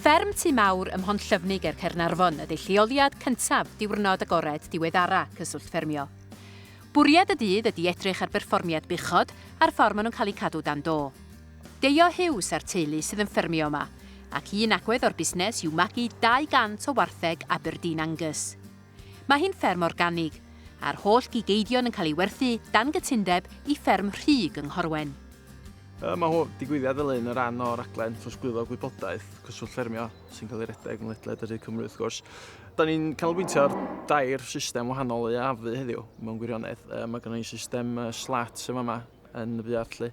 Fferm Tŷ Mawr ym Mhontllyfni ger Caernarfon ydy lleoliad cyntaf Diwrnod Agored diweddara Cyswllt Ffermio. Bwriad y dydd ydy edrych ar berfformiad buchod a'r ffordd maen nhw'n cael eu cadw dan do. Deio Hughes a'r teulu sydd yn ffermio yma, ac un agwedd o'r busnes yw magu 200 o wartheg Aberdeen Angus. Mae hi'n fferm organig, a'r holl gig eidion yn cael ei werthu dan gytundeb i Fferm Rhug yng Nghorwen. Yma mae hwn, digwyddiad fel hyn yn rhan o raglen trosglwyddo gwybodaeth Cyswllt Ffermio sy'n cael ei redeg yn ledled yr hyd Cymru wrth gwrs. Da ni'n canolbwyntio ar dair system wahanol i afu heddiw mewn gwirionedd. E, mae gennym ni system uh, slat yma yma yn y buarth lle.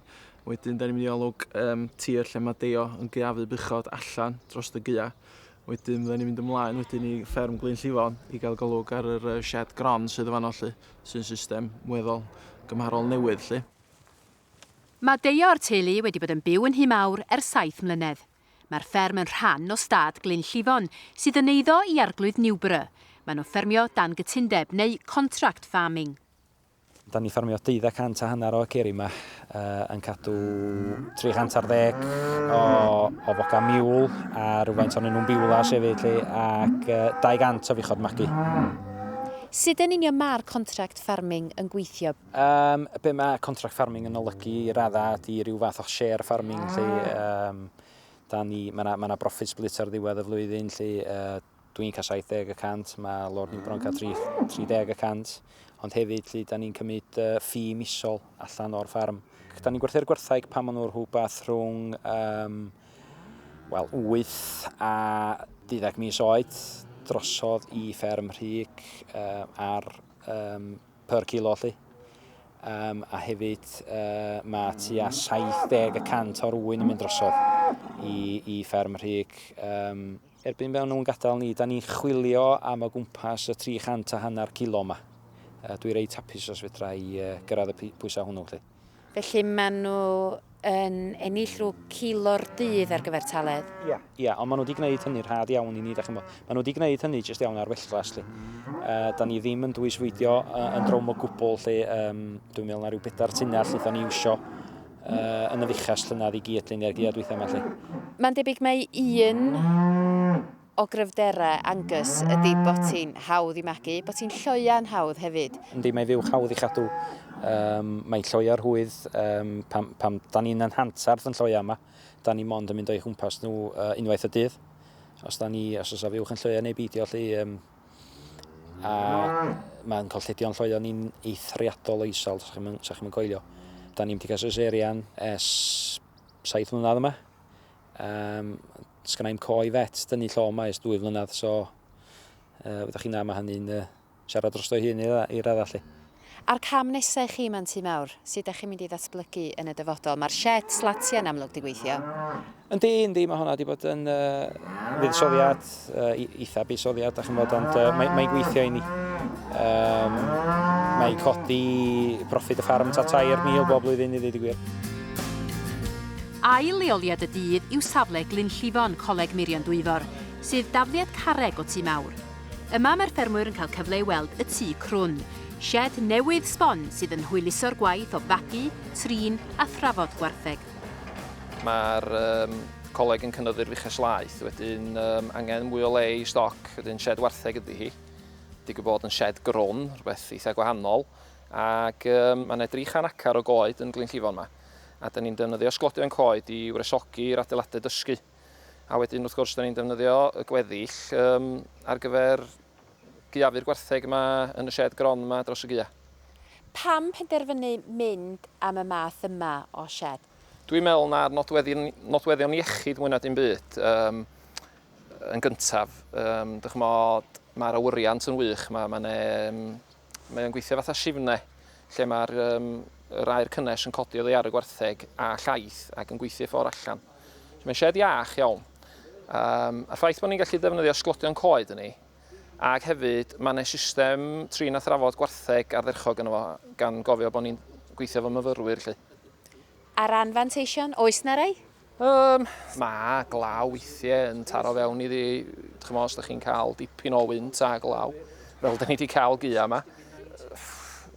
Wedyn da ni'n mynd i olwg um, tir lle mae deio yn gaeafu buchod allan dros y gaeau. Wedyn fydden ni'n mynd ymlaen wedyn i fferm Glyn Llifon i gael golwg ar yr yy shed gron sydd yn fanno 'lly, sy'n system weddol gymharol newydd 'lly. Mae deuo o'r teulu wedi bod yn byw yn Nhŷ Mawr ers saith mlynedd. Mae'r fferm yn rhan o stad Glyn Llifon sydd yn eiddo i Arglwydd Newborough. Maen nhw'n ffermio dan gytundeb neu contract farming. Dan ni ffarmio deuddag cant a hanner o aceri yma, uh, yn cadw 300 ar ddeg o, o foca miwl a rhywfaint o'n nhw'n biwlas hefyd lle, ac uh, 200 o fuchod magu. Sut yn union mae'r contract farming yn gweithio? Um, be mae contract farming yn olygu i radda di rhyw fath o share farming lle, um, da ni, mae yna ma, na, ma na broffit split ar ddiwedd y flwyddyn lle, uh, dwi'n cael 70 y cant, mae Lord Newbron yn cael 30 y cant, ond hefyd lle da ni'n cymryd uh, ffi misol allan o'r ffarm. Da ni'n gwerthu'r gwerthaig pan maen nhw'n rhywbeth rhwng um, well, 8 a 12 mis oed drosodd i fferm rhig uh, ar um, per kilo lli. Um, a hefyd uh, mae tua 70 y cant o'r wyn yn mynd drosodd i, i fferm rhig um, Erbyn maen nhw'n gadael ni, dan ni'n chwilio am o gwmpas y 300 a hanner kilo yma. Dwi reit hapus os fedra i gyrraedd y pwysau hwnnw 'lly. Felly maen nhw yn ennill rhyw kilo'r dydd ar gyfer taledd? Ia. Ia, ond maen nhw wedi gwneud hynny'n rhad iawn i ni, dach chi'n gwybod. Maen nhw wedi gwneud hynny jyst iawn ar wellglas 'lly. Da ni ddim yn dwys fwydio yn drwm o gwbl 'lly. Dwi'n meddwl na rhyw bedair tunnell wnaethon ni iwsio. uh, yn y fuchas llynedd i gyd luniau'r giad weithiau yma lle. Mae'n debyg mae un o gryfderau Angus ydy bod ti'n hawdd i magu, bod ti'n lloia'n hawdd hefyd. Yndi, mae fuwch hawdd i chadw. Um, mae lloia'r hwydd, um, pam, pam da ni'n anhantarth yn lloia yma, da ni mond yn mynd o'i chwmpas nhw uh, unwaith y dydd. Os da ni, os oes a fuwch yn lloia neu beidio, lle, um, A mae'n colledion lloeon ni'n eithriadol o isel, sa chi'n chi yn coelio. Da ni'n wedi cael seserian es saith mlynedd yma. Um, Sgan i'm coe fet, dynnu llo yma es dwy flynedd, so uh, ydych chi'n am a hynny'n uh, siarad drosto'i hun i, i radda chi. A'r cam nesa i chi ma'n tŷ mawr? Sut dach chi'n mynd i ddatblygu yn y dyfodol? Ma'r sied slatia yn amlwg di gweithio. Yndi, yndi, ma' honna di bod yn yy fuddsoddiad, yy eitha buddsoddiad dach chi'n bod ond yy mae mae'n gweithio i ni. Yym mae codi proffid y ffarm ta 3,000 bob blwyddyn i ddeud y gwir. Ail leoliad y dydd yw safle Glynllifon, Coleg Meirion Dwyfor, sydd dafliad carreg o tŷ mawr. Yma mae'r ffermwyr yn cael cyfle i weld y tŷ crwn, sied newydd sbon sydd yn hwyluso'r gwaith o fagu, trin a thrafod gwartheg. Mae'r um, coleg yn cynyddu'r fuches laeth, wedyn um, angen mwy o le i stoc, wedyn sied wartheg ydy hi. Digwydd bod yn sied grwn, rhywbeth eitha gwahanol, ac um, mae'n edrych chan acar o goed yn Glynllifon yma, a dyn ni'n defnyddio sglodion coed i wresogi'r adeiladau dysgu. A wedyn wrth gwrs, da ni'n defnyddio y gweddill um, ar gyfer gyafur gwartheg yma yn y shed gron yma dros y gua. Pam penderfynu mynd am y math yma o shed? Dwi'n meddwl na'r nodweddion, nodweddion iechyd mwy na dim byd um, yn gyntaf. Um, dych mod, mae'r awyriant yn wych, mae, mae, ne, um, mae o'n gweithio fatha sifne, lle mae'r um, yr aer cynnes yn codi oddi ar y gwartheg a llaeth ac yn gweithio ffordd allan. Mae'n sied iach iawn. Um, a'r ffaith bod ni'n gallu defnyddio sglodion coed yn ni, ac hefyd mae yna system trin a thrafod gwartheg ardderchog yn efo, gan gofio bod ni'n gweithio efo myfyrwyr lle. A'r anfanteision, oes na rai? Um, mae glaw weithiau yn taro fewn iddi, chymod, os ydych chi'n cael dipyn o wynt a glaw, fel da ni wedi cael gia yma.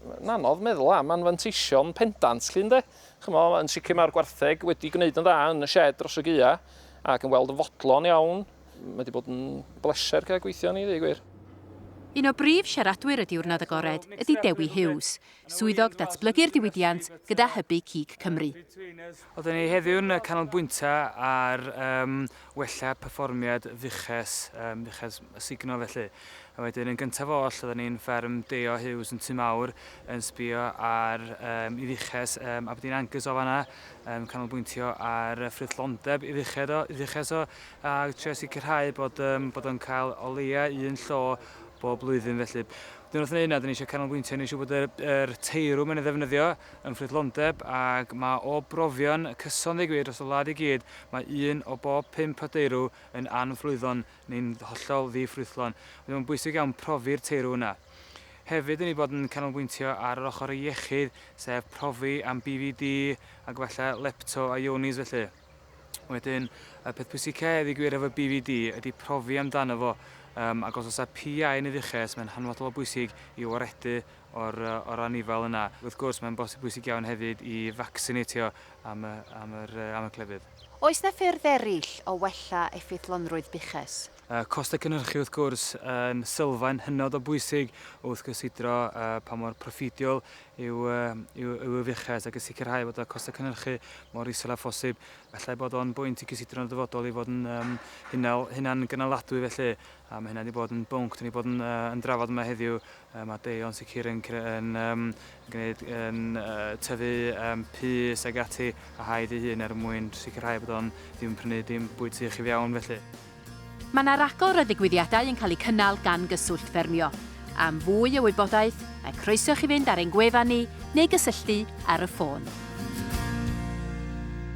Mae'n anodd meddwl am anfanteision pendant, llun de? Ch'mod, yn sicr mae'r gwartheg wedi gwneud yn dda yn y shed dros y gaeau ac yn weld yn fodlon iawn. Mae wedi bod yn bleser cael gweithio arni, ddweud gwir. Un o brif siaradwyr y Diwrnod Agored ydy Dewi Hughes, Swyddog Datblygu'r Diwydiant gyda Hybu Cig Cymru. Oedden ni heddiw'n canolbwyntio ar wella perfformiad fuches yym fuches sugno felly. A wedyn yn gyntaf oll odden ni'n fferm Deo Hughes yn Tŷ Mawr yn sbio ar yym i fuches yym Aberdeen Angus o fanna yn canolbwyntio ar y ffrwythlondeb i fuched o i fuches o a trio sicrhau bod yym bod o'n cael o leia un llo bob blwyddyn felly. Wedyn wrth wneud 'na 'dyn ni isio canolbwyntio ni isio bod yr yr teirw mae'n ei ddefnyddio yn ffrwythlondeb ag ma' o brofion cyson ddeu gwir dros y wlad i gyd Mae un o bob pump o deirw yn anflwyddon neu'n hollol ddi-ffrwythlon. Felly mae'n bwysig iawn profi'r teirw yna. Hefyd, dyn ni bod yn canolbwyntio ar yr ochr iechyd, sef profi am BVD ac efallai lepto a ionis felly. Wedyn, y peth pwysica i gwir efo BVD ydy profi amdano fo, um, ac os oes PI yn y fuches, mae'n hanfodol o bwysig i waredu o'r anifail yna. Wrth gwrs, mae'n bosib bwysig iawn hefyd i facsinatio am y clefyd. Oes 'na ffyrdd eraill o wella effeithlonrwydd buches? Costau cynhyrchu wrth gwrs yn sylfaen hynod o bwysig o wrthgysidro pa mor proffediol yw y fuches ac yn sicrhau bod y costau cynhyrchu mor isel â phosib. Efallai bod o'n bwynt i gysidro'n y dyfodol i fod yn hunan gynaladwy felly. A mae hynna 'di bod yn bwnc dan ni 'di bod yn yy yn drafod yma heddiw. Yy ma' Dei o'n sicr yn cre- yn yym yn gneud yn yy tyfu yym pys ag ati a haid ei hun er mwyn sicrhau bod o'n ddim yn prynu dim bwyd sych i fiewn felly. Mae 'na ragor o ddigwyddiadau yn cael eu cynnal gan Gyswllt Ffermio. Am fwy o wybodaeth, mae croeso i chi fynd ar ein gwefan ni neu gysylltu ar y ffôn.